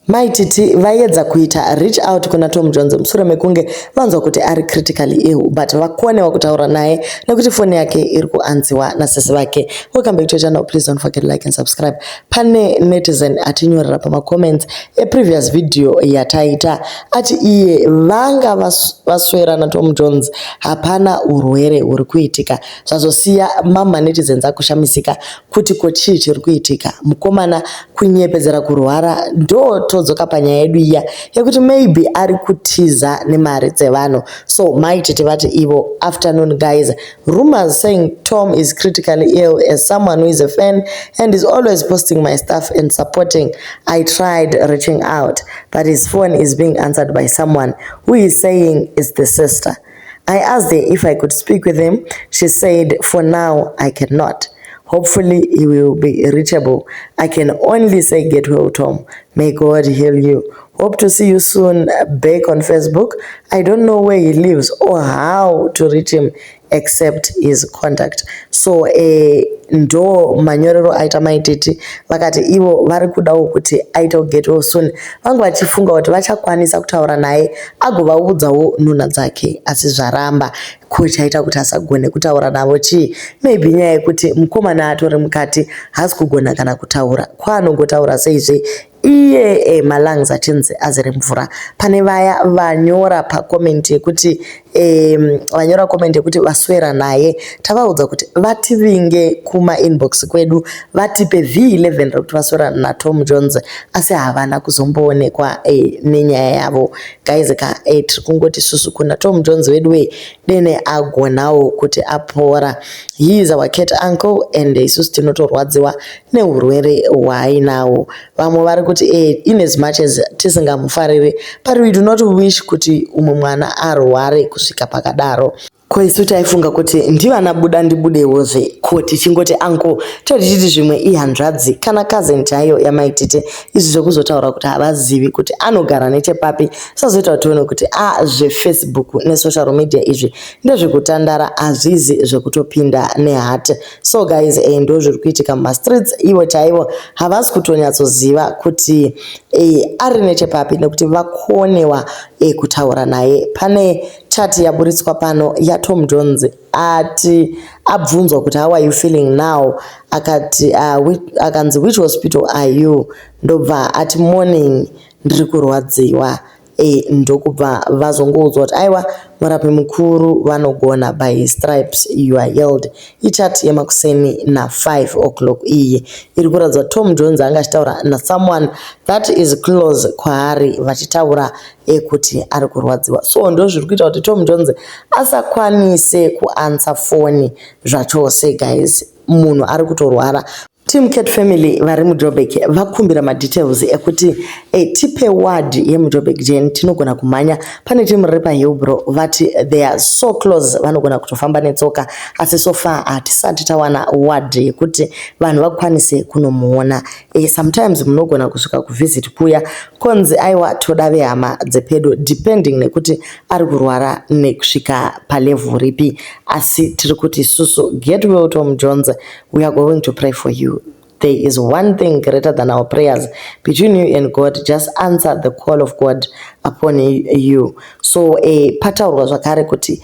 Mai Titi vaiedza kuita reach out kuna Tom Jones mushure mekunge vanzwa kuti ari critically ill but vakonewa kutaura naye nekuti foni yake iri kuanziwa nasisi vake. Welcome back to your channel, please don't forget to like and subscribe. Pane netizen atinyorera pamacomments eprevious video yataita ati iye vanga vaswera naTom Jones hapana urwere huri kuitika zvazosiya mamma netizens akushamisika kuti ko chii chiri kuitika mukomana kunyepedzera kurwara ndotodzoka panyaya yedu iya yekuti maybe ari kutiza nemari dzevanhu so mai tete vati ivo afternoon guys rumors saying tom is critically ill as someone who is a fan and is always posting my stuff and supporting i tried reaching out but his phone is being answered by someone who is saying is the sister I asked her if I could speak with him, she said for now I cannot. Hopefully he will be reachable. I can only say get well Tom. May God heal you. Hope to see you soon back on Facebook. I don't know where he lives or how to reach him except his contact so eh, ndo manyorero aita maititi vakati ivo vari kudawo kuti aite kuget well soon vange vachifunga kuti vachakwanisa kutaura naye agovaudzawo nhunha dzake asi zvaramba ko chaita kuti asagone kutaura navo chii maybe nyaya yekuti mukomana atori mukati haasi kugona kana kutaura kwaanongotaura seizve iye e, malungs achinzi azere mvura pane vaya vanyora pacoment yekuti e, vanyora comment yekuti vaswera naye tavaudza kuti vativinge kumainbox kwedu vatipe V11 rekuti vasora naTom Jones asi havana kuzomboonekwa eh, nenyaya yavo guys ka eh, tiri kungoti susu kuna Tom Jones vedu wee dene agonawo kuti apora he is our cat uncle and isusu tinotorwadziwa neurwere hwaainawo vamwe vari kuti eh, in as much as tisingamufariri but we do not wish kuti umwe mwana arware kusvika pakadaro Ko isu taifunga kuti ndivana buda ndibudewozve ko tichingoti uncle toti chiti zvimwe ihanzvadzi kana cousin chaiyo yamai tete izvi zvekuzotaura kuti havazivi kuti anogara nechepapi sazoita kuti tione kuti a ah, zvefacebook nesocial media izvi ndezvekutandara hazvizi zvekutopinda nehat so guys e eh, ndo zviri kuitika mumastreets ivo chaivo havasi kutonyatsoziva kuti e ari nechepapi nekuti vakonewa e kutaura naye pane Chati yaburitswa pano yaTom Jones ati abvunzwa kuti how are you feeling now akati uh, which, akanzi which hospital are you ndobva ati morning ndiri kurwadziwa e, ndokubva vazongoudzwa kuti aiwa murapi mukuru vanogona by his stripes you are healed ichati yemakuseni na5 o'clock iyi iri kuratidza tom jones anga achitaura nasomeone that is close kwaari vachitaura ekuti ari kurwadziwa so ndozviri kuita kuti Tom Jones asakwanise kuansa foni zvachose guys munhu ari kutorwara Team Cat Family vari muJobek vakumbira madetails ekuti eh, tipe word yemuJobek Jane tinogona kumhanya pane team riri paHillbro vati they are so close vanogona kutofamba netsoka asi so far hatisati tawana word yekuti vanhu vakwanise kunomuona Eh, sometimes munogona kusvika kuvisit kuya konzi aiwa toda vehama dzepedo depending nekuti ari kurwara nekusvika palevel ripi asi tiri kuti isusu get well tom jones we are going to pray for you there is one thing greater than our prayers between you and god just answer the call of god upon you so eh, pataurwa zvakare kuti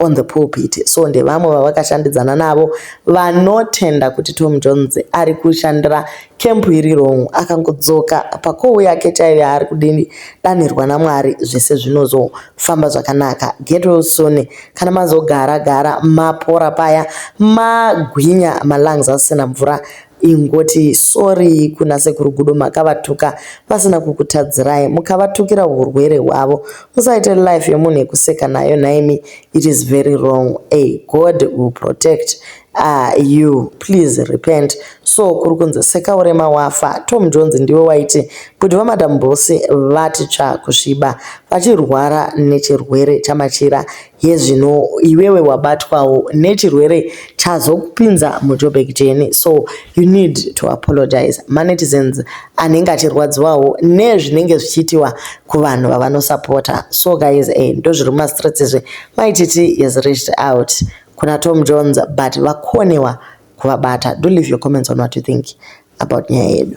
on the pulpit so ndevamwe vavakashandidzana navo vanotenda kuti tom jones ari kushandira kempu iri wrong akangodzoka pakohu yake chaiyo yaari kudanirwa namwari zvese zvinozofamba zvakanaka get well soon kana mazogara gara mapora paya magwinya malungs asina mvura Ingoti sorry kuna sekuru Gudo makavatuka vasina kukutadzirai mukavatukira hurwere hwavo. Musaite life yemunhu yekuseka nayo nhaimi it is very wrong ay God will protect uh, you please repent. So kuri kunzi seka urema wafa. Tom Jones ndiwe waiti kuti vamadam Boss vati tsva kusviba vachirwara nechirwere chamachira Hezvino iwewe wabatwawo nechirwere chazokupinza muJoburg jeni so you need to apologise maNetizens anenge achirwadziwawo nezvinenge zvichiitiwa kuvanhu vavanosapota so guys eh ndozviri mumastreets izvi mai Titi has reached out kuna Tom Jones but vakonewa kuvabata do leave your comments on what you think about nyaya yedu.